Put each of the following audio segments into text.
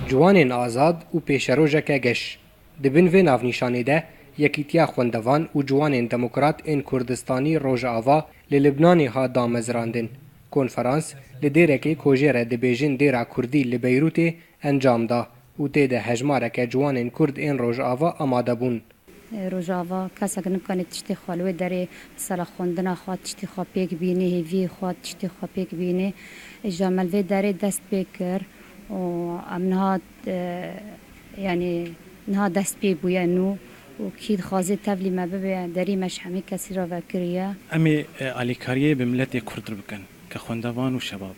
Ciwanên Azad û Pêşerojeke Geş, Di bin vê navnîşanê de Yekîtiya Xwendevan û Ciwanên Demokrat ên Kurdistanî Rojava li Libnanê hat damezrandin. Konferans li dêrekê ku jê re dibêjin Dêra Kurdî li Beyrûtê encam da û tê de hejmareke ciwanên Kurd ên Rojava amade bûn. Rojava, Kesek nikane tiştê xwe li wê derê di sera xwendina xwe tiştê xwe pêk bînê, hêviyê xwe tiştê xwe pêk bînê. Îja me li vê derê dest pê kir û em niha yanî niha dest pê bûye nû û kî dixwaze tevlî me bibe derî me ji hemî kesî re vekiriye. Em ê alîkariyê bi miletê Kurd re bikin ke xwendevan û şebab.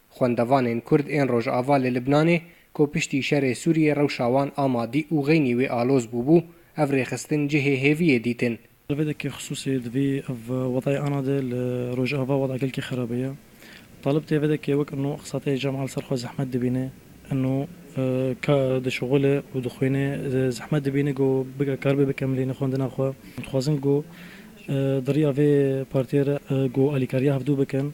Xwendevanên Kurd ên Rojava li Libnanê ku piştî şerê Sûriyê rewşa wan a madî û xeynî wê aloz bûbû, ev rêxistin cihê hêviyê dîtin. Li vê deke xisûsê divê ev wedayê ana de li Rojava weda gelkî xerabe ye. Talib tê vê deke wek ino qisateyê Cemal li ser xwe zehmet dibîne, ino ka dişuxul e û dixwîne, zehmet dibîne ku bike karibe bike milîne xwendina xwe. Dixwazin ku di riya vê partiyê re ku alîkariya hevdu bikin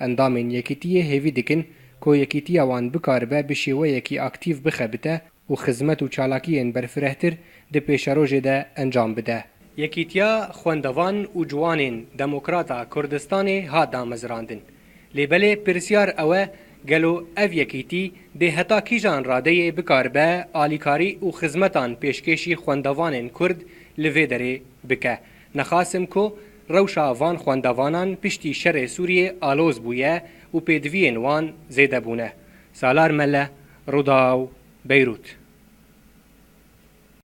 Endamên Yekîtiyê hêvî dikin ku Yekîtiya wan bikaribe bi şêweyekî aktîv bixebite û xizmet û çalakiyên berfirehtir di pêşerojê de encam bide. Yekîtiya Xwendevan û Ciwanên Demokrat a Kurdistanê hat damezrandin. Lê belê pirsyar ew e gelo ev yekîtî dê heta kîjan radeyê bikaribe alîkarî û xizmetan pêşkêşî xwendevanên Kurd li vê derê bike. Nexasim ku Rewşa van xwendevanan piştî şerê Sûriyê aloz bûye û pêdiviyên wan zêde bûne. Salar Mele, Rûdaw, Beyrût.